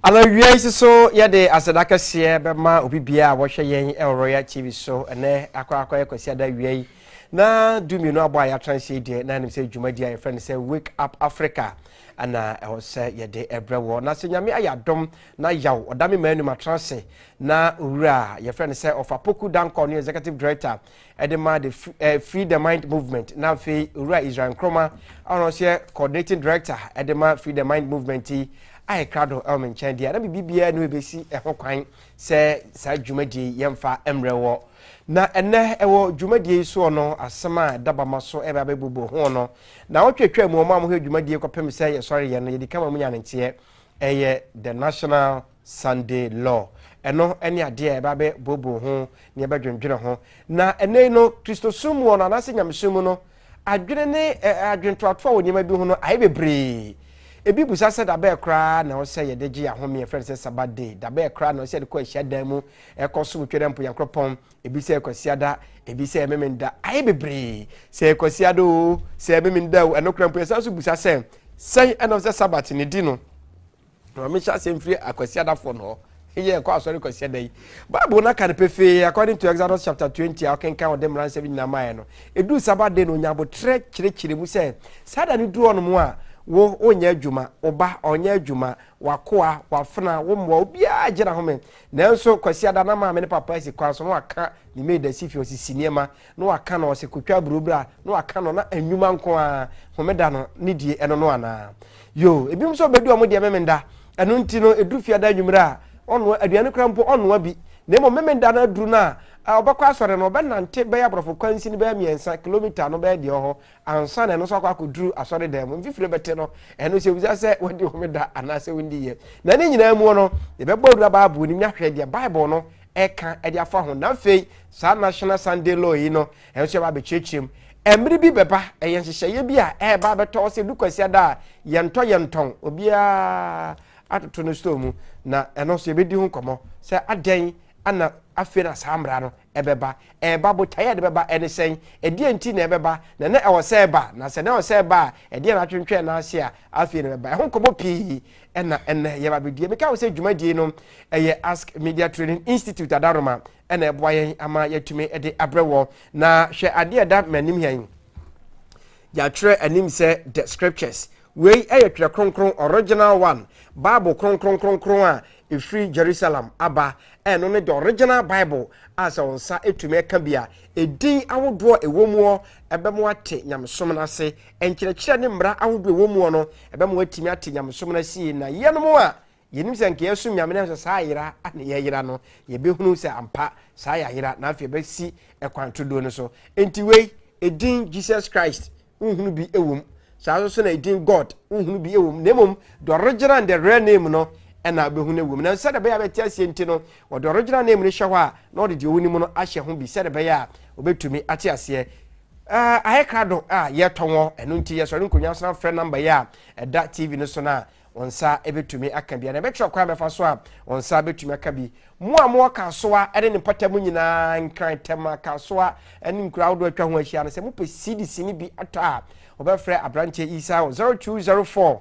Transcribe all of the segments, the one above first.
Anɔwia yi nso so yɛde aseda kɛseɛ bɛma obi biara a wɔhwɛ yɛn wɔ Royal TV so ɛnɛ akɔ akɔ yɛ kwasi ada awia yi na du mmienu abɔ a yɛatra nhyɛ yi deɛ na anim sɛ dwumadi a yɛfrɛ no sɛ Wake Up Africa ɛna ɛwɔ sɛ yɛde ɛbrɛ wɔ na sɛ nyame ayɛ adom na yaw ɔda me maa anum atra ase na owura a yɛfrɛ no sɛ ɔfa poku dankɔ ne executive director ɛde ma the eh, Free the Mind Movement na afei owura Israel Nkrumah a ɔno nso yɛ coordinating director ɛde ma Free the Mind Movement yi a ɛkra do ɛwɔ me nkyɛn deɛ na biribiara ne ɛbɛsi ɛho kwan sɛ saa dwumadie yi yɛmfa mmerɛ wɔ na ɛnɛ ɛwɔ dwumadie yi soɔ no asɛm a ɛda bama so ɛbɛ abɛbobɔ ho no na wɔtwatwa mu ɔma a wɔhwɛ dwumadie kɔpem sɛ yɛsɔre yɛ no yɛdi kama mu nya ne nteɛ ɛyɛ the national Sunday Law. Ɛno ne adeɛ a yɛbɛabɛ booboo ho na yɛbɛdwendwene ho. Na ɛnnɛ yi no, Kristosom mu hɔ no, anaasɛ Nyamesom mu no, adwene ne eh, adwentoatoa wɔ nneɛma bi ho no ayɛ bebree. Ebi busa sɛ dabɛɛ koraa na ɛwɔ sɛ yɛde gye yɛn ahome, yɛfrɛ no sɛ Sabbath day. Dabɛɛ koraa na ɛwɔ sɛ yɛde kɔ ahyiadan mu, ɛkɔ som Twɛdɛ Mpo Nyankorɔpɔn. Ebi sɛ Kwasiada, ebi sɛ Memenda. Ayɛ bebree. Sɛ Kwasiada o, sɛ Memenda o, ɛno koraa mpo yɛsan so busa sɛ, sɛn ɛna ɛwɔ sɛ Sabbath ne di no? Ma menhyɛ aseɛ mfiri akwasiadafoɔ no hɔ yɛ ɛkɔ asɔre kwasia da yi bible no aka no pefee according to exodus chapter 20 a ɔkenkan ɔde mmara nsɛm nyinaa maeɛ no ɛduu saba de no ɔnya aboterɛ kyerɛkyerɛ mu sɛ saa da no duru ɔnom a wo wonyɛ adwuma wo ba ɔnyɛ adwuma wakoa wafena wo mmoa obiara gyina home nanso kwasiada na maame ne papa asi kwan so na waka ne maid asi fie ɔsisi nneɛma na waka no, ɔsɛ kotwa aburo bra, na waka no, na anwuma nko ara, homeda no, ne die, ɛno no anaa? Yoo, ebinom nso bɛdu ɔmo deɛ memenda, ɛno nti no, ɛduru fiada anwummerɛ a, ɔnnoa, aduane koraa mpo ɔnnoa bi, na mmom memenda no aduru no a, ɔbɛkɔ asɔre no, ɔbɛnante bɛyɛ aborɔfo kwansin bɛyɛ mmiɛnsa, kilometer no bɛyɛ deɛ ɔhɔ, ansa na ɛno nso akɔ akɔduru asɔre dan mu, mfifire bɛte no, ɛno nso ɛbisa sɛ wadi homeda anaasɛ wondiiɛ. Na ne nyinaa mu no, yɛbɛbɔ awura Bible no mu ahwɛ deɛ Bible no ɛka de afa ho na afei saa national sunday law yi no ɛnso ɛba abɛkyerɛkyerɛ mu mmere bi bɛba ɛyɛ nhyehyɛeɛ bi a ɛreba abɛtɔ hɔ sɛ dukwasi da a yɛntɔ yɛntɔn obiara atoto no store mu na ɛno nso yɛbɛdi ho nkɔmmɔ sɛ adɛn ana afei na saa mmara no ɛbɛba ɛreba botaeɛ a ɛde bɛba ɛne sɛn ɛdeɛ nti na ɛbɛba na na ɛwɔ sɛ ɛba na sɛ na ɛwɔ sɛ ɛba a ɛdeɛ na atwentwɛn n'ase a afei na ɛbɛba ɛho nkɔmmɔ pii ɛna ɛnɛ yɛba bɛdie meka wo sɛ dwumadie no ɛyɛ ask media training institute adaroma ɛna ɛboa yɛn ama yɛatumi de abrɛ wɔ na hwɛ adeɛ ɛda m'anim hɛn yɛatwerɛ anim sɛ the scriptures wei ɛyɛ twerɛ kronkron original one bible kronkron kronkron a ɛfiri jerusalem aba ɛno ne the original bible a sɛ wo nsa ɛtumi ɛka bi a ɛdin ahodoɔ ɛwɔ muɔ ɛbɛmo ate nyamesom no ase Nkyerɛkyerɛ ne mmara ahodoɔ a ɛwɔ mu hɔ no, ɛbɛma wɔatumi ate nyamesom no asie, na yɛnom a yɛnim sɛ anka yɛresom Nyame nanso saa ayera na yɛayera no, yɛbɛhunu sɛ ampa saa yɛ ayera, na afei yɛbɛsi ɛkwan turodoo no so. Enti wei, edin Jesus Christ, wonhunu bi wɔ mu, saa ara nso na edin God, wonhunu bi wɔ mu, na mmom the original and the real name no na wobɛhunu no wɔ mu. Nanso sɛdeɛ ɛbɛyɛ a bɛte aseɛ nti no, wɔde original name no hyɛ hɔ a, na wɔde deɛ wonim no ahyɛ ho bi, sɛdeɛ ɛbɛyɛ a wɔbɛtumi ate aseɛ. Uh, ayɛ krado a ah, yɛtɔ wɔn ɛno nti yɛsɔre nkonnwa san frɛ namba yi a ɛda tv no so no a wɔn nsa bɛtumi aka bi na ɛbɛkyerɛ kwan bɛfa so a wɔn nsa bɛtumi aka bi mo a mowɔ kasoa ne ne mpata mu nyinaa nkran tɛma kasoa ne nkura ahodoɔ atwa ho ahyia no sɛ mopɛ cdc no bi atɔ a wɔbɛfrɛ aberanteɛ isa wɔ 0204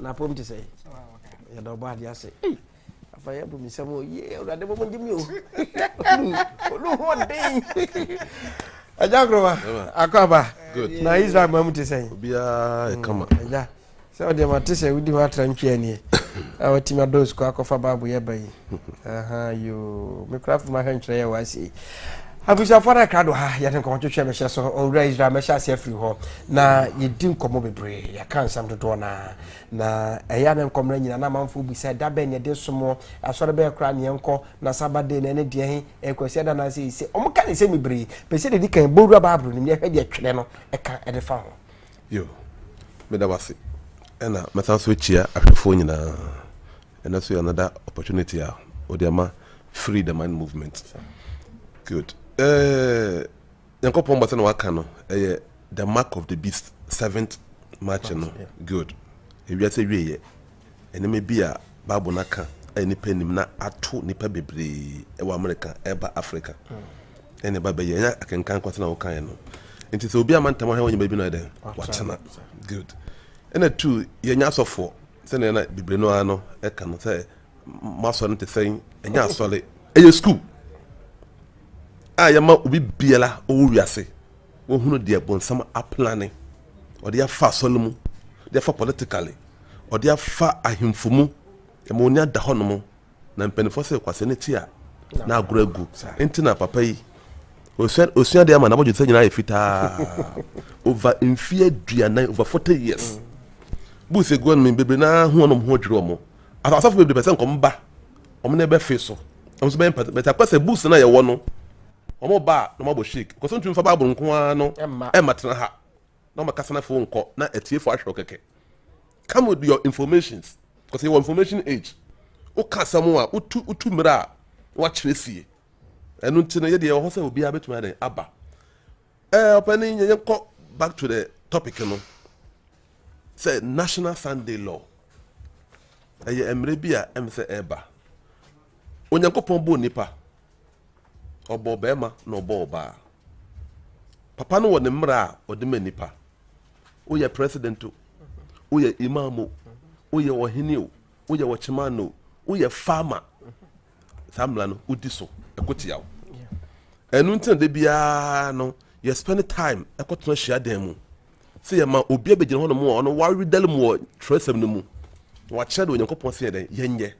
na apom te sɛ yɛda ɔbɔ adeɛ ase afa yɛ bu mi nsɛm o yie awurade bɔbɔ gye mi o olu ho ɔden ɛgya nkoroma akɔ aba na israel ma mu te sɛ obiara ɛkama mm, ɛgya sɛ ɔdeɛ ma te sɛ wodi hɔ atra ntwea nie a watumi adɔ sukuu akɔfa baabo yɛ ba yi Ahaa yoo, me kora firi m'ahwɛntwerɛ yɛ wa sei. Abusuafoɔ no akra do ha, yɛde nkɔmɔtwetwe mehyɛ so, owura Israel mɛhyɛ ase afiri hɔ. Na yɛdi nkɔmɔ bebree, yɛka nsɛm dodoɔ no a. Na ɛyɛ na nkɔmɔ no nyina na amanfoɔ bisa, da bɛn na yɛde somoɔ, asɔre bɛyɛ koraa na yɛnkɔ, na saba de na ɛne deɛ he, ɛyɛ kwasia da anaasɛ ɛyɛ se. Wɔka ne nsɛm bebree, pɛ sɛ dedi kan bɔ wura Bible no mu na yɛhwɛ deɛ twerɛ no ka de fa ho. Yoo, meda mo ase. Ɛna mɛsan so akyia ahwɛfoɔ nyinaa. Ɛno nso yɛ another opportunity a wɔde ama free the mind movement. Good. Eh, Nyankopɔn bɔ sɛ na waka no, ɛyɛ the mark of the beast seventh march no. Good. Ewiase wieɛ. Nneɛma bi a Bible no aka a nipa nim na ato nipa bebree wɔ America ɛba Africa. Ɛna ɛba bɛyɛ ɛnyɛ akenkan kɔ sɛ na wokaeɛ no. Nti sɛ obi ama ntam ahwɛ wɔ nneɛma bi no ayɛ dɛ watena. Good. Ɛna two yɛnyɛ asɔfoɔ. Sɛnea na Bibiri no ara no ka no sɛ mo asɔre no te sɛn? Ɛnyɛ asɔre, ɛyɛ sukuu a yɛma obi biara ɔwɔ wiase wɔhunu deɛ bonsam aplane ɔde afa asɔre no mu de afa politically ɔde afa ahemfo mu ɛma onya da hɔ nom Na mpanyinfoɔ se kwasea no ti a na agorɔ agu nti na papa yi osua osua deɛ ama na abɔdwe sɛ nyinaa yɛ fitaa over mfie aduanan over forty years buus egu wɔn mu bebree naa ho wɔn ho adwiri wɔn asafo bebree pɛ sɛ nkɔm ba wɔn na ɛbɛfe so wɔn nso bɛyɛ mpata bɛtɛ akɔ sɛ buus na yɛwɔ no wɔn ba na wɔn abɔ shake kɔsɔn tumi fa baabolo nko ara no ɛma tena ha na wɔn akasa na fo nkɔ na atiefo ahwɛ kɛkɛ. come with your informations because yɛwɔ information age woka asɛm a wotu wotu mmerɛ a wakyerɛ sie ɛno nti no yɛdeɛ ɛwɔ hɔ sɛ obiara bɛtumi adɛn aba ɛɛ ɔpɛne yɛnkɔ back to the topic no sɛ national sunday law ɛyɛ mmerɛ bi a ɛm sɛ ɛba onyankopɔn bɔɔ nipa Ɔbɔɔ ɔbarima na ɔbɔɔ ɔbaa. Papa no wɔ ne mmara a ɔde ma nnipa. Woyɛ president o, woyɛ imam o, woyɛ ɔhene o, woyɛ ɔkyeman o, woyɛ farmer. Saa mmara no wodi so ɛko tia wo. Ɛno nti na da biara no yɛ spend time ɛkɔtena hyia dan mu. sɛ yɛma obi abɛgyina hɔnom a ɔno waredare mu wɔ twerɛsɛm no mu na wakyerɛ de onyankopɔn sɛ yɛdɛn yɛnyɛ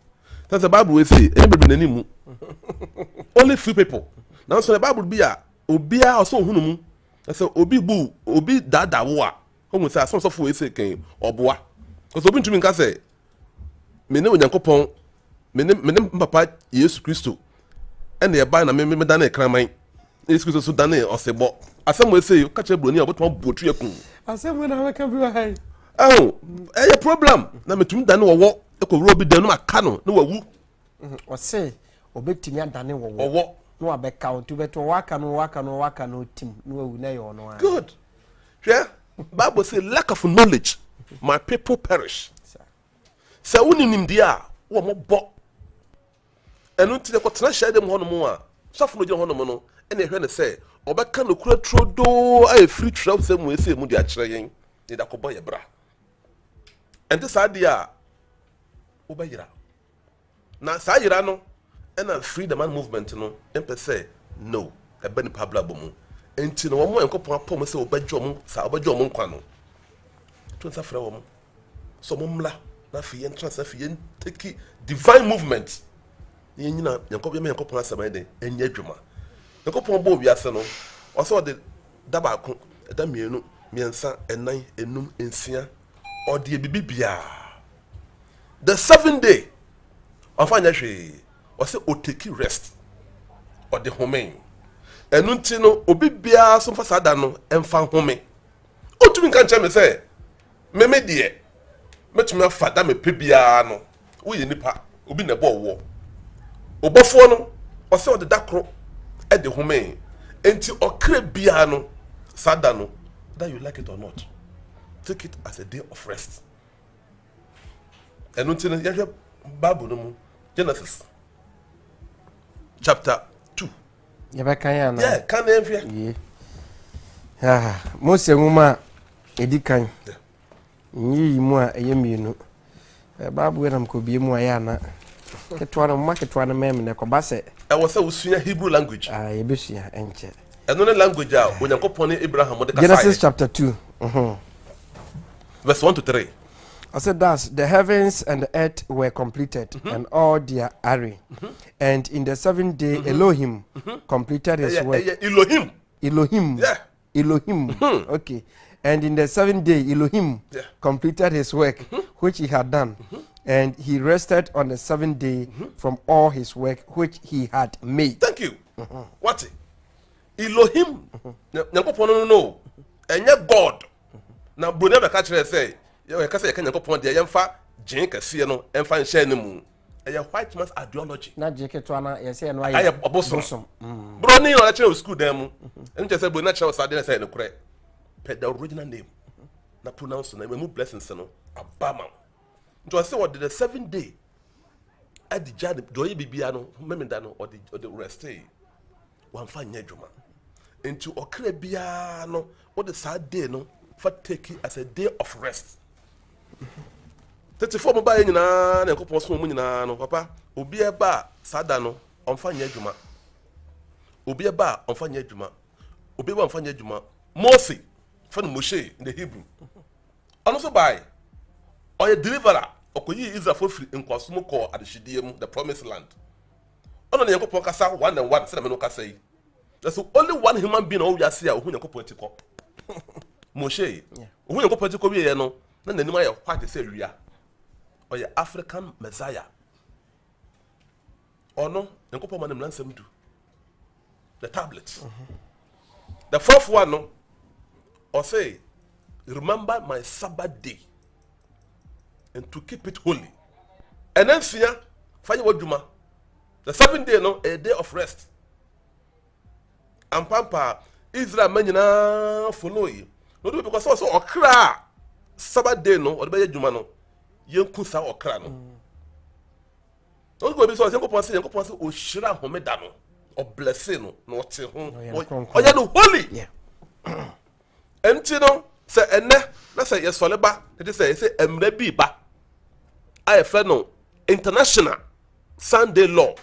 sɛ sɛ bible wei sei ɛnyɛ bebree n'anim mu only few people nanso na bible bi a obiara ɔsɛ ohunu mu na sɛ obi bu obi daadaa wo a ɔhu sɛ asɛm sɔfo wei sei kɛn ɔboa kɔsɛ obi ntumi nka sɛ me ne Onyankopɔn, me ne me ne papa Yesu Kristo ɛna ɛbae na me me danee kraman. Yesu Kristo so danee ɔsebɔ. Asɛm wɔ ese ka kyerɛ buroni a ɔbɛtuma bɔ tu ɛkum. Asɛm wɔ na abɛka bi wɔ ha yi. Ɛho ɛyɛ problem na metumi dane wɔwɔ ɛkɔwura obi dan no ma ka no na wawu. Mhm, ɔse ɔbɛtumi adane wɔwɔ ɔwɔ na wabɛka wo nti wobɛto ɔwɔ aka no ɔwɔ aka no ɔwɔ aka no tim na wawu na ɛyɛ ɔno a good hwɛ bible say lack of knowledge my people perish sɛ wo ne nimdeɛ a wɔ mo bɔ ɛno nti na kɔtena hyɛ dɛm hɔnom a sɔfo no gyina hɔnom no ɛna ɛhwɛ no sɛ ɔbɛka nokora turodoo a ɛfiri twerɛw sɛ mu ɛsɛ mu de akyerɛ yɛn ne da kɔbɔ yɛ bra ɛnte saa deɛ a wobɛyera Na saa yera no na free the man movement no mpɛ sɛ no ɛba nnipa abrabɔ mu. Nti no wɔn a Nyankopɔn apɔ wɔn sɛ wɔbɛgye wɔn saa wɔbɛgye wɔn nkwa no, to nsa frɛ wɔn sɛ wɔn mmra na afei yɛn tra sɛ afei yɛn take divine movement na yɛn nyina Nyankopɔn yɛn Nyankopɔn asɛm ayɛ dɛ ɛnyɛ adwuma. Nyankopɔn bɔɔ wiase no ɔsɛ ɔde da baako ɛda mmienu mmiɛnsa ɛnan enum nsia ɔdeɛ bibi biaa the seven day ɔnfa nyɛ hwee ɔsɛ oteki rest ɔde home ɛnu nti no obi biaa so nfa saa da no ɛnfa home otumi nka nkyɛn me sɛ meme deɛ mɛtumi afa da mepɛ biaa no Woyɛ nipa, obi na ɛbɔɔ woɔ. Ɔbɔfoɔ no, ɔsɛ ɔde da koro de homee. Enti ɔkra biara no, saa da no, whether you like it or not, take it as a day of rest. Ɛno nti no, yɛhwɛ Bible no mu, Genesis chapter two. Yɛbɛka yɛ anaa? Yɛ, kan na yɛnhwɛ. Yie. Ah, Mose nwoma a ɛdi kan. Yeah. Nyiyimu a ɛyɛ mmienu. Bible yɛ na mekɔbue mu ayɛ ana? Ketewa no, mma ketewa no mmɛn me na ɛkɔba sɛ. Ɛwɔ sɛ wosua Hebrew language. Ah, yɛbɛsua, ɛnkyɛ. Ɛno ne language a Onyankopɔn ne Abraham de kasaeɛ. Genesis chapter two. Uh-huh. Verse one to three. Ɔsɛ thus the heavens and the earth were completed mm -hmm. and all their array. Mm -hmm. And in the seventh day mm -hmm. Elohim mm -hmm. completed his yeah, work. Yeah, Elohim. Elohim. Yeah. Elohim. Mm-hmm. Okay. And in the seventh day, Elohim yeah. completed his work mm-hmm. which he had done. Mm-hmm. And he rested on the seventh day mm-hmm. from all his work which he had made. Thank you. Mm-hmm. What? Elohim. Nyankopɔn no no. Ɛnyɛ God. Na Brunei bɛka kyerɛ sɛ, yɛka sɛ yɛka Nyankopɔn deɛ yɛmfa gyen kɛseɛ no ɛmfa nhyɛ no mu. ɛyɛ white man's ideology. na gye ketewa na yɛ sɛ ɛno ayɛ bosom. Mm. bro ne ɔlɛkyerɛ wɔ sukuu dan mu ɛno kyerɛ sɛ bro na kyerɛ wɔ saa deɛ sɛ ɛnokorɛ pɛ the original name na pronounce na ɛmu blessings no aba ma nti ɔsɛ wɔde the seven day adi gya de ɔyɛ biribiara no mmɛmida no ɔde ɔde restee. wamfa nyɛ adwuma nti ɔkra biara no wode saa day no fa take it as a day of rest tetefoɔ mo baeɛ nyinaa na nyankopɔn som mu nyinaa no papa obi ɛba a saa da no ɔmfa nyɛ adwuma obi ɛba a ɔmfa nyɛ adwuma obi ɛba a ɔmfa nyɛ adwuma mose fɛ no moshe in the hebrew ɔno nso bae ɔyɛ deliverer ɔkɔyii israelfoɔ firi nkoaso mu kɔɔ adehyedeɛ mu the promised land Ɔna ne Nyankopɔn kasa one and one sɛdeɛ me no kasa yi. Na so only one human being na ɔwɔ wiase a ɔhu Nyankopɔn akyi kɔ. Moshe, ɔhu Nyankopɔn akyi kɔ wieɛ no, na n'anim ayɛ white sɛ wia. Ɔyɛ African Messiah. Ɔno, Nyankopɔn ma no mmara nsɛm du. The tablets. The fourth one no, ɔse, remember my Sabbath day. and to keep it holy ɛnɛ nsia fa yɛ w'adwuma the seven day no a day of rest ampampa israel ma nyinaa follow yi na ɔde because ɔsɛ ɔkra a sabbath day no ɔde bɛyɛ adwuma no yɛnku saa ɔkra no na ɔde bɛbi sɛ ɔsɛ nkɔpɔn sɛ yɛnkɔpɔn sɛ ɔhyira homeda no ɔblɛse no na ɔte ho ɔyɛ no holy yeah. Ɛnti no, sɛ ɛnɛ na sɛ yɛsɔre ba na kyerɛ sɛ yɛsɛ mmerɛ bi ba a yɛfrɛ no international Sunday law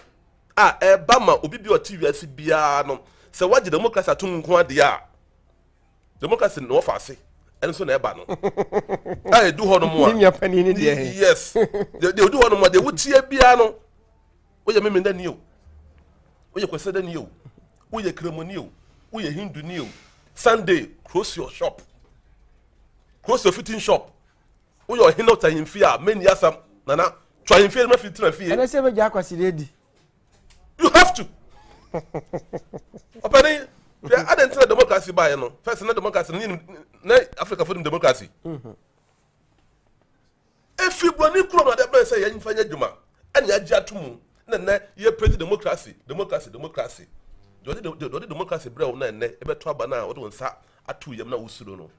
a ɛba ma obi bi a ɔte wiase biara no sɛ wagye democracy ato mu nko adeɛ a democracy na wɔfa ase ɛno nso na ɛba no a ɛdu hɔ nom a yes deɛ ɛdu hɔ nom a deɛ wotie biara no woyɛ memendani o woyɛ kwasidani o woyɛ kremoni o woyɛ hinduni o sunday close your shop close your fitting shop woyɛ ɔhene ɔtɔ ahemfie a mɛni asɛm nana tɔ ahemfie no mafi tena fie ɛnɛ sɛ bɛgya akwaside di you have to ɔpɛne hwɛ adɛ ntina democracy baeɛ no fɛs na democracy no na africa fo dem democracy mm-hmm. Efi Buroni kurom na ade abɛn sɛ yɛn mfa nyɛ adwuma na yɛagye ato mu na nnɛ yɛrepre te demokrase, demokrase, demokrase. Deɛ ɔde, deɛ ɔde demokrase brɛ wo na nnɛ ɛbɛto aba no a wode wo nsa ato yam na wosuro no.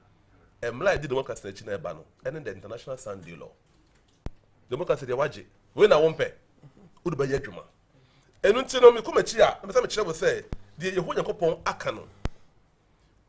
Mmara a ɛdi demokrase no akyi na ɛba no, ɛne the International Sunday Law. Demokrase deɛ wagye, wei na wompɛ, wode bɛyɛ adwuma. Ɛno nti no, mekɔ m'akyi a, na mepɛ sɛ mekyerɛ wo sɛ deɛ Yehowa Nyankopɔn aka no,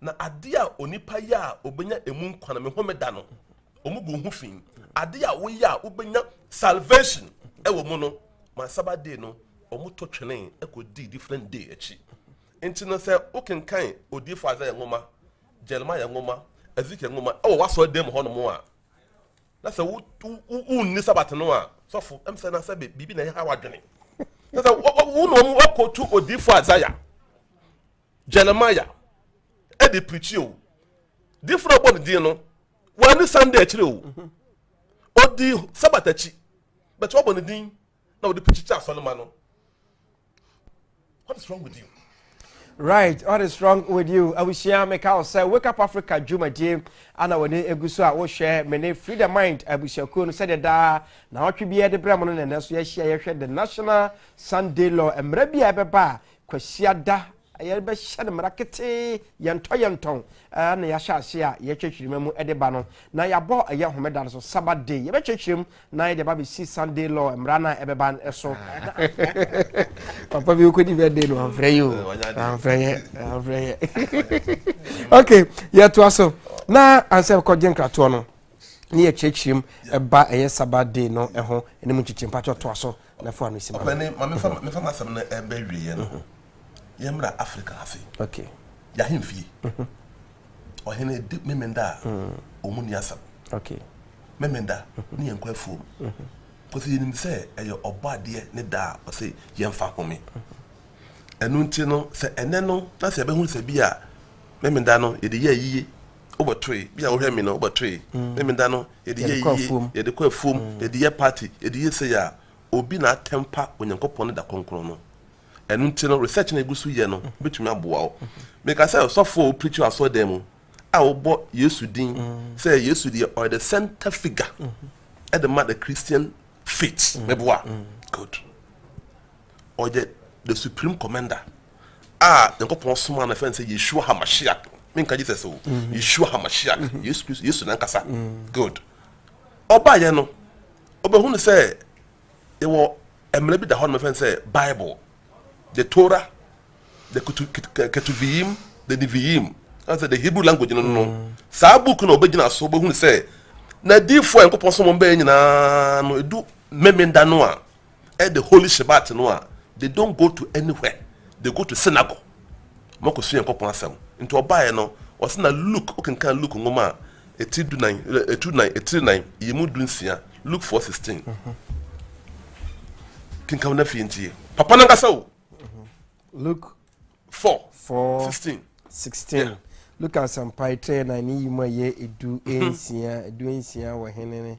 Na ade a onipa yɛ a obenya emu nkwa no, me homeda no, wɔn gu ho fi. Ade a woyɛ a wobenya salvation wɔ mu no, ma Sabbath day no, wɔn to twene kɔ di different day akyi. Nti no sɛ wokenkan odiyifo Isaiah nwoma, Jeremiah nwoma, Ezekiel nwoma ɛwɔ w'asɔre dan mu hɔnom a, na sɛ wo wo wunni Sabbath no a, sɔfo ɛm sɛ na sɛ biribi na ɛha w'adwene. Sɛ sɛ wo na wɔn akɔtu odiyifo Isaiah. Jeremiah ɛde pirikyi o difo na ɔbɔ ne din no wɔani Sunday akyire o mhm. ɔdi Sabbath akyi but wɔbɔ ne din na wɔde pirikyi kyɛ asɔre ma no what is wrong with you. Right, what is wrong with you? Abusua meka wo sɛ Wake Up Africa dwumadie ana wɔne egu so a wohwɛ me ne Free the Mind abusuakuo no sɛdeɛ daa na ɔtwe biara de brɛ mo no na ɛnɛ so yɛahyia yɛhwɛ the National Sunday Law mmerɛ bi a ɛbɛba a Kwasiada yɛrebɛhyɛ no mmara ketee, yɛntɔ yɛntɔn, na yɛahyɛ ase a yɛkyerɛkyerɛma mu de ba no, na yɛabɔ ɛyɛ homeda no so, Sabbath day, yɛbɛkyerɛkyerɛm na yɛde aba bɛsi Sunday law mmara no a ɛbɛba so. Papa bi wokɔdi birthday no amfrɛ yi o, amfrɛ yɛ, amfrɛ yɛ. Ok, yɛtoa so. Na ansɛ kɔgye nkratoɔ no, ne yɛkyerɛkyerɛm ɛba ɛyɛ Sabbath day no ɛho, ɛne mu nkyekyem, patwɛ toa so. na fa no si ma me. Ɔpanin, ma memfa memfa m'asɛm no ɛbɛ wieɛ no, yɛmmra Africa ha se. Okay. Y'ahemfie. Ɔhene di Memenda a, ɔmu ni asɛm. Okay. Memenda ne yɛn nkɔ afuom. Kɔsi yɛnim sɛ ɛyɛ ɔbɔ adeɛ ne da a ɔse yɛmfa home. Ɛno nti no, sɛ ɛnɛ no na sɛ yɛbɛhunu sɛ bi a Memenda no yɛde yɛ ayie, Wobɛtoe. Bi a wohwɛ me no, wobɛtoe. Ne me da no, yɛde yɛ yie, yɛde kɔ afuom, yɛde yɛ party, yɛde yɛ sei a, obi na atɛmpa Onyankopɔn ne da kronkron no. Ɛno nti no, research no a yɛgu so yɛ no bɛtumi aboa wo. Meka sɛ ɔsɔfo a wo preach wɔ asɔredan mu a wobɔ Yesu din sɛ Yesu deɛ ɔyɛ the center figure ɛde ma the Christian faith. Mɛboa? Good. Ɔyɛ the supreme commander. a nyankopɔn somaa no fɛ no sɛ yeshua hamashiak menka jesus o mm-hmm. yeshua hamashiak mm-hmm. yesu kristo yesu nankasa mm. good ɔbaeɛ no ɔbɛhu no sɛ yɛwɔ mmerɛ bi da hɔ no mɛfɛ no sɛ bible the torah the ketuviyim the niviyim sɛ the hebrew language no no mm. saa book no ɔbɛgyina so ɔbɛhu no sɛ na diifoɔ a nyankopɔn somaa bɛyɛ nyinaa no ɛdu memenda no a the holy Shabbat no a, they don't go to anywhere, they go to synagogue ma ɔkɔ sua Nyankopɔn asɛm. Nti ɔbaeɛ no, ɔse na Luke, wokenkan Luke nwoma a, etiri du nan, etiri nan, etiri nan, yɛmu du nsia, Luke 4:16. Kenkan na fie ntie. Papa no ankasa o. Luke 4, 4 16. 16. Yeah. Luke asɛmpa etire nan ne yi mu a yɛ edu mhm. nsia, edu nsia wɔ hene ne.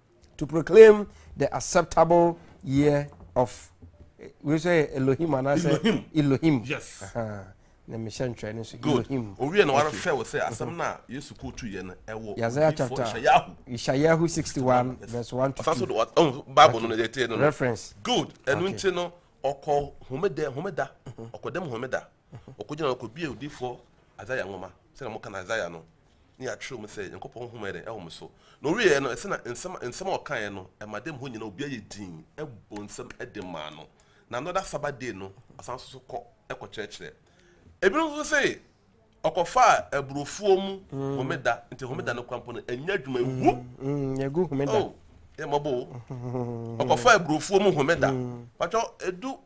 to proclaim the acceptable year of wei sɛ yɛ elohim anaasɛ Elohim. elohim Yes. Aha. na mehyɛ ntwerɛ no so Good. elohim Owie na wahwɛ wo sɛ asɛm no a Yesu kotu yɛ no ɛwɔ yɛ isaiah odiyifoɔ chapter Yeshayahu. yeshayahu 61 verse 1 to Ɔsan so 2 de wa- ɔn, Bible no na yɛde tie no no. reference Good. Ɛno Okay. nti no ɔkɔ homeda homeda ɔkɔ dɛm homeda ɔkɔgyina ɔkɔbie odiyifoɔ Isaiah nwoma sɛdeɛ moka no Isaiah no na yɛatwerɛ mu sɛ Nyankopɔn honhom ayɛ dɛn? Ɛwɔ mo so. Na ɔwieɛ no, ɛsɛ na nsɛm, nsɛm a ɔkaeɛ no, ɛma dɛm hɔ nyina obiara yɛ dinn bɔ nsam de maa no. Na another Sabbath day no, ɔsan nso so kɔ kɔkyerɛkyerɛ. Ebinom nso se ɔkɔfaa aburofuo mu homeda, nti homeda no kora mpo no, ɛnyɛ adwuma, ɛgu. Ɛgu homeda. Oh, yɛ mmɔbɔ o. Ɔkɔfaa aburofuo mu homeda. Patwɔ, ɛdu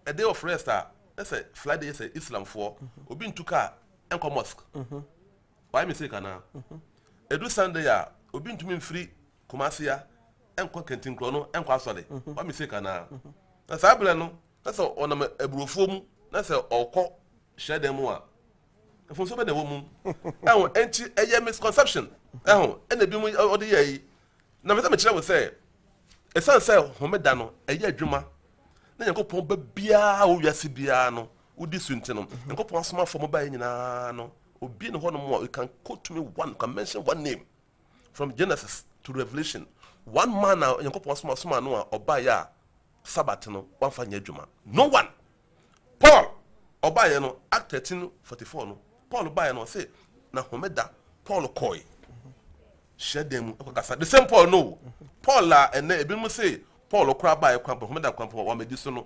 a day of rest a, na sɛ Friday yɛ sɛ Islamfoɔ, obi ntu kaa nkɔ mosque mhm. wayɛ mistake anaa ɛdu mhm. sunday a obi ntumi mfiri kumaseya nkɔ kɛntinkorɔ no nkɔ asɔre mhm. wayɛ mistake anaa na saa berɛ no na sɛ ɔnam aburofoɔ mu na sɛ ɔkɔ hyɛ dɛn mu a mfonso bɛ na ɛwɔ mu ɛho ɛnti ɛyɛ misconception ɛho ɛna ebi mu ɔde yɛ yi na mɛ sɛ mekyerɛ wo sɛ ɛsiane sɛ homeda no ɛyɛ adwuma na nyankopɔn ba biara wɔ wiase biara no wodi so nti no, Nyankopɔn asomafo a wɔbaeɛ nyinaa no, obi ne hɔnom a you can quote me one, you can mention one name from Genesis to Revelation, one man a Nyankopɔn asoma soma no a ɔbaeɛ a Sabbath no wamfa nyɛ adwuma. No one. Paul ɔbaeɛ no, Act 13 44 no, Paul baeɛ no ɔse na homeda Paul kɔe hyɛ dan mu ɛkɔkasa. The same Paul no, Paul a ɛnɛ ebinom se Paul koraa baeɛ kwan homeda kwan pɔ wɔamɛdi so no,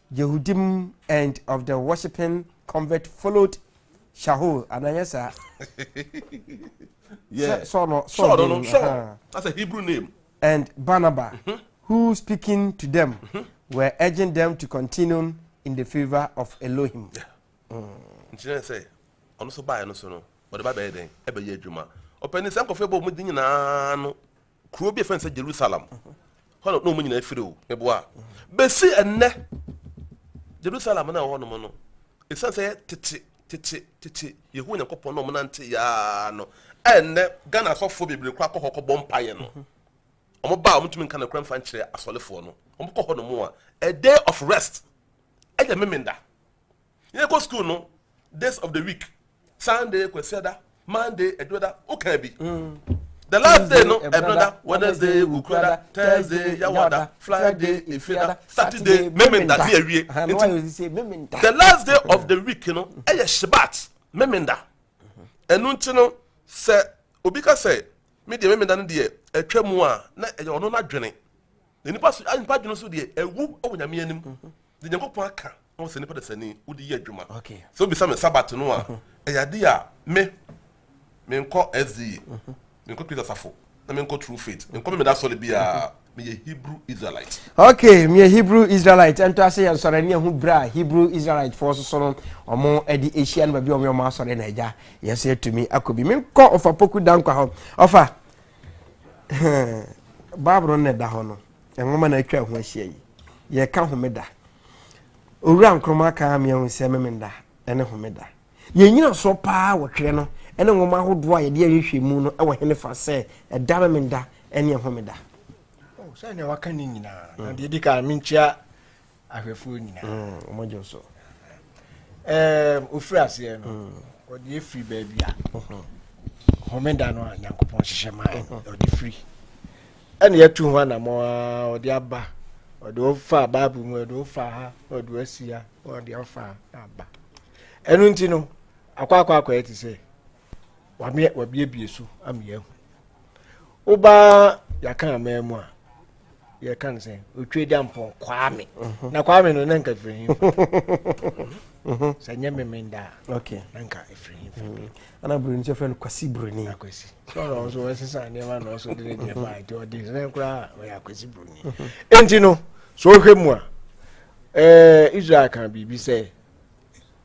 Yehudim and of the worshipping convert followed Shaul, anaa ɛnyɛ saa? yeah. Sɛ Saul no Saul no no Saul that's a Hebrew name. And Barnabas, mm -hmm. who speaking to them mm -hmm. were urging them to continue in the favour of Elohim. Yeah. Mm. nkyerɛ sɛ ɔno nso baeɛ no so no ɔde ba bɛyɛ dɛn ɛbɛyɛ adwuma ɔpɛni sɛ nkɔfo ɛbɔ ɔmo di nyinaa no Kuro bi a yɛfrɛ no sɛ Jerusalem, hɔ na wɔn nyinaa firi o, meboa a. Bɛsi ɛnnɛ, Jerusalem no a ɛwɔ hɔnom no, ɛsiane sɛ yɛ tete tete tete Yehowa Nyankopɔn na wɔnante yaa no, ɛnnɛ Ghana asɔfoɔ bebree koraa kɔ hɔ kɔbɔ mpaeɛ no. Wɔn ba a wɔntumi nka no kora mfa nkyerɛ asɔrefoɔ no, wɔn kɔ hɔnom a, a day of rest ɛyɛ memenda. Yɛkɔ school no days of the week Sunday kwasiada Monday adwoda woka bi the last day no ɛbɛda Wednesday wukurada Thursday yawada Friday efirada Saturday memenda ne awie nti the last day of the week no ɛyɛ shibat memenda ɛnu nti no sɛ obi ka sɛ me deɛ memenda no deɛ atwa mu a na ɛyɛ ɔno n'adwene. Na nipa so a nipa dwene so deɛ ɛwu wɔ nyame anim de nyankopɔn aka na wɔsɛ nipa dasani wode yɛ adwuma sɛ wobisa me sabat no a ɛyɛ ade a me menkɔ sda menkɔ kristo asafo na menkɔ true faith menkɔ me meda sɔre biara meyɛ hebrew israelite ok meyɛ hebrew israelite ɛnto ase yɛ nsɔre ne ɛho berɛ a hebrew israelite foɔ soso no ɔmo ɛde ahyia no baabi a ɔmo yɛ ɔmo asɔre na agya yɛsɛ atumi akɔ bi menkɔ ɔfa poku dankwa hɔ ɔfa Bible no na ɛda hɔ no, nwoma na atwa ho ahyia yi. Yɛka homeda. Owura Nkrumah ka amea ho sɛ memenda ne homeda. Yɛn nyina so paa wɔ twerɛ no ne nwoma ahodoɔ a yɛde ahwehwɛ mu no wɔ hene fa sɛ ɛda memenda ne homeda. Oh, sɛ nea waka ne nyinaa. Na deɛ di kan menkyia ahwɛfoɔ nyinaa. Mm, wɔn adwo so. Ɛɛm, ofiri aseɛ no, ɔde efiri baabi a. Homeda no a Nyankopɔn hyehyɛ maa yɛ no, ɔde firi. Ɛna yɛtu ho anamɔ a ɔde aba, ɔde ɔfa Bible mu, ɔde ɔfa ha, ɔde ɔsi ha, ɔde ɔfa ha aba. Ɛno nti no, akɔ akɔ akɔ yɛ te sɛ wabiebie so ama yɛahu wobaa yɛaka amaa mu a yɛka no sɛ ɔtwa gya mpɔn kwame mhm. na kwame no na nka firi he mhm. sɛ nyɛ memenda a na nka ɛfiri he mhm. ana buroni sɛ frɛ no kwasi buroni akwasi ɔno nso wɔsesa nneɛma na ɔso de ne deɛ baa nti ɔde sɛ koraa ɔyɛ akwasi buroni enti no so wohwɛ mu a eh, israel ka biribi sɛ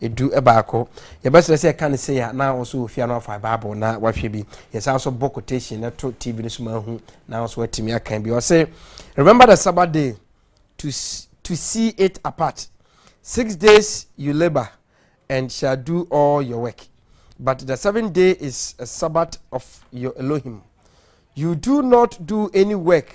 Edu baako. Yɛbɛsrɛ sɛ ka no sei a na wo so wɔ fie a na wafa Bible na wahwɛ bi. Yɛsan nso bɔ quotation no to TV no so ma ahu na nso watumi akan bi. Ɔse, Remember the Sabbath day to, to see it apart. Six days you labor and shall do all your work. But the seventh day is a Sabbath of your Elohim. You do not do any work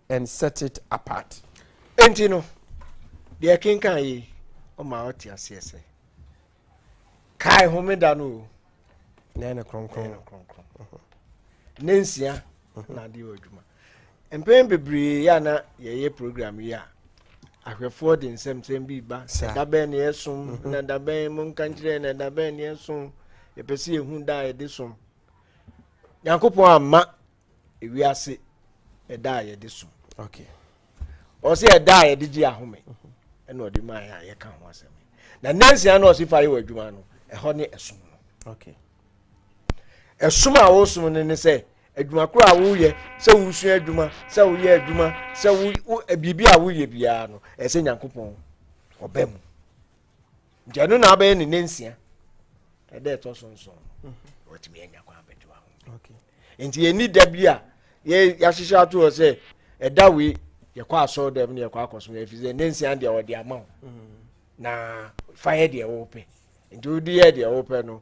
and set it apart. Enti no, deɛ ɛkenkan yi ɔma ɔte aseɛ sɛ, kae homeda no o. Na ɛne kronkron. Na ɛne kronkron. Mhm. Ne nsia mhm. na adeɛ wɔ adwuma. Mpɛn bebree yɛ na yɛyɛ program yi a, ahwɛfoɔ de nsɛmsɛm bi ba ɛda bɛn ne ɛsom mhm. na ɛda bɛn mo nka nkyerɛ na ɛda bɛn ne ɛsom yɛpɛ sɛ yɛhu da a yɛde som nyankopɔn amma ewiase ɛda a yɛde so ɔsi ɛda a yɛde gye ahome ɛna ɔde maa yɛ a yɛka ho asɛm na nansia na ɔsi fa yɛ wɔ adwuma no ɛhɔ ne ɛsom no ɛsom a wɔsom no ne sɛ adwuma koro a woyɛ sɛ wosua adwuma sɛ woyɛ adwuma sɛ wo biribi a woyɛ biara no ɛsɛ nyankopɔn ɔbɛ mu nti ɛno na abɛyɛ ne nansia ɛdɛ ɛtɔ so nson no mhm. watumi anya kwan abɛgye wa ho nti yɛni da bi a yɛahyehyɛ ato hɔ sɛ ɛda wei yɛkɔ asɔr dɛm ne yɛkɔ akɔso no ɛfiri sɛ nansia deɛ wɔde ama wo mhm. na fa yɛ deɛ wopɛ nti wode yɛ deɛ wopɛ no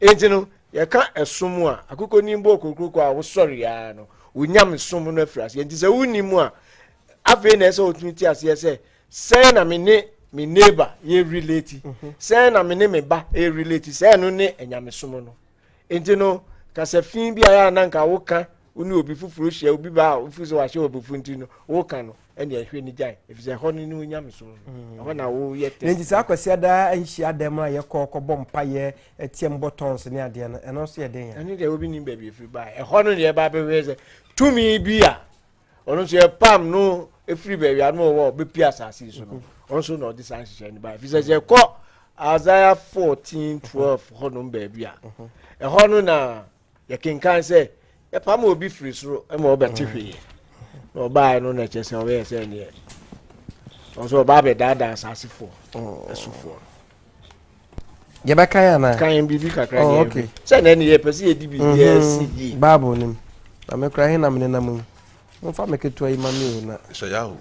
enti no yɛka ɛsom a akokɔnim bɔ okokuroko a wosɔre aa no wonyame som no afiri aseɛ nti sɛ wonni mu a afei na ɛsɛ wotumi te aseɛ sɛ sɛn na me ne me neighbor yɛ relate mhm. sɛn na me ne me ba yɛ relate sɛn no ne anyamesom no nti no kasafin bi a yɛ ananka woka wo ne obi foforɔ hyia obi ba a wofi sɛ wahyɛ wɔ abufu nti no woka no ɛne ɛhwɛ ne gyae efisɛ ɛhɔ no ne wo nyamesom no mm. ɛhɔ na woyɛ tɛ nti saa akwasi adaa nhyia dɛm no a yɛkɔ kɔbɔ mpayɛ ɛtiam bɔ tɔns ne adeɛ no ɛno nso yɛ den yɛ ɛne deɛ obi nim baabi efiri baa ɛhɔ no deɛ ɛbaa bɛhwɛ sɛ tumi bi a ɔno nso yɛ pam no efiri baabi a no wɔ bɛpi asase so no mm-hmm. ɔno nso na ɔde saa nhyehyɛ no baa efisɛ sɛ ɛkɔ Isaiah fourteen twelve hɔ nom baabi a mm-hmm. ɛhɔ no na yɛkenkan sɛ yɛpam obi firi soro ma ɔbɛte hwee na ɔbaeɛ no na ɛkyɛ sɛ ɔbɛyɛ sɛ neɛ ɔsɛ ɔbaa bɛdaadaa asasefoɔ ɛsofoɔ yɛbɛkan anaa kan biribi kakra oh, okay. sɛ na ɛne yɛpɛ sɛ yɛde biribi asi mhm. yie bible nim na mekora he na mene nam yi momfa me ketewa yi ma me o na sɛ yaho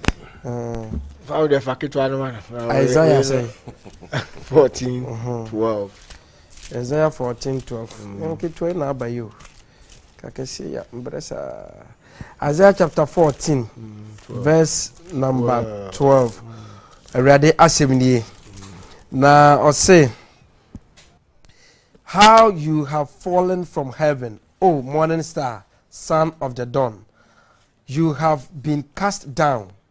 fa wode fa ketewa no ma no isaiah sɛ 14 12 Isaiah fourteen twelve. Mm. Nketewa yi na aba yi o. Kakɛse ya mbrɛ saa. Isaiah chapter fourteen mm, verse number twelve. Mm. Awurade asɛm nie. Na ɔse how you have fallen from heaven, O morning star, son of the dawn. You have been cast down.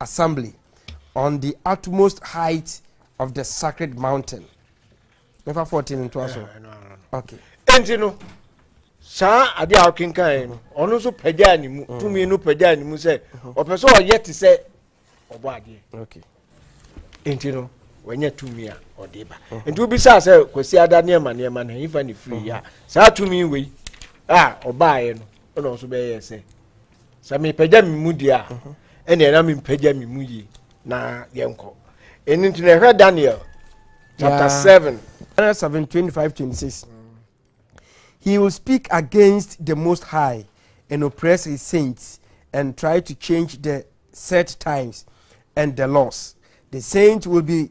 Assembly on the utmost height of the sacred mountain. Mɛfa 14 ntoa so. Okay. Enti no, saa ade a ɔkenkan no, ɔno nso pagyaa ne mu, mm. tumi no pagyaa ne mu sɛ mm-hmm. ɔpɛ sɛ ɔyɛ te sɛ ɔbɔ adeɛ. Okay. Enti no, wɔnyɛ tumi a ɔde ba. Mm-hmm. Enti wobisa sɛ Kwasi Ada nneɛma nneɛma na yifa ne firi yi a, mm-hmm. saa tumi wei a ɔbaeɛ no, ɛna ɔso bɛyɛ sɛ sɛ mepagya me mu deɛ a ɛneɛ na mempagya me mu yie na yɛnkɔ ɛno nti na ɛhwɛ daniel chapter seven. Daniel seven twenty five twenty six. He will speak against the Most High and oppress his saints and try to change the set times and the laws. The saints will be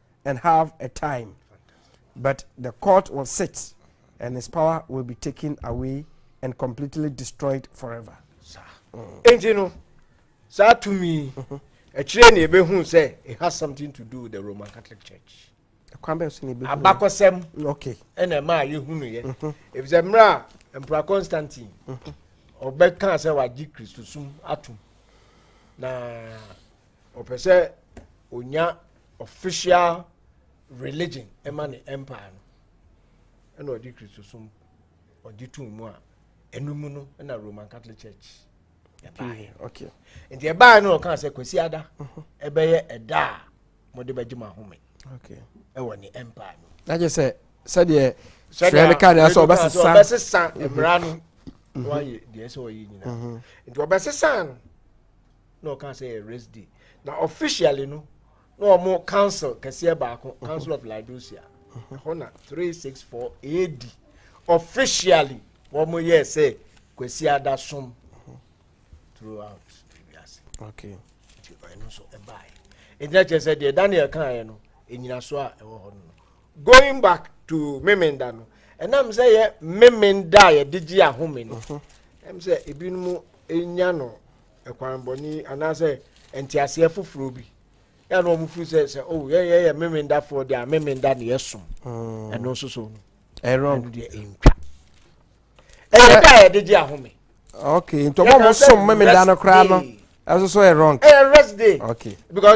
and have a time but the court will sit and his power will be taken away and completely destroyed forever. nti no saa tumi ɛkyerɛ ne ɛbɛhu sɛ it has something to do with the roman catholic church abakɔsɛm ɛna ɛma a yɛhunuyɛ ɛfisɛ mmerɛ a mpra constantine ɔbɛkaa sɛ wagye kristosum atom na ɔpɛ sɛ ɔnya official religion ɛma ne empire no ɛna ɔde kristosom ɔde tum mu a ɛno mu no ɛna roman catholic church ɛbaeɛ okay nti ɛbaeɛ no ɔka sɛ kwasi ada mhm. ɛbɛyɛ ɛda a mode bɛgye mo ahome okay ɛwɔ ne empire no na gye sɛ sɛdeɛ sɛdeɛ no ka deɛ sɛ ɔbɛsesa ɔbɛsesa mmara no mhm. wayɛ deɛ sɛ ɔyɛ nyinaa mhm. nti ɔbɛsesa no na ɔka sɛ yɛ rest day na officially no na wɔn council kɛseɛ baako council of laodicea ɛhɔ na three six four ad officially wɔn yɛ sɛ kwasi ada som throughout wiase okay nti ɛno nso ɛbaeɛ ɛgyina kyerɛ sɛ deɛ daniel kaeɛ no ɛnyinaso a ɛwɔ hɔ no going back to memenda no ɛnam sɛ yɛ memenda a yɛde gye ahome no ɛm sɛ ebinom nya no kwammɔne anaasɛ nteaseɛ foforɔ bi na na wɔn firi sɛ sɛ o yɛn yɛyɛ memendafoɔ deɛ a memenda na yɛsom mm. ɛno nso so no ɛno deɛ ɛntwa ɛyɛ da a yɛde gye ahome okay nti ɔmo ɔmo som memeda no koraa no ɛso so yɛ wrong ɛyɛ rest day okay because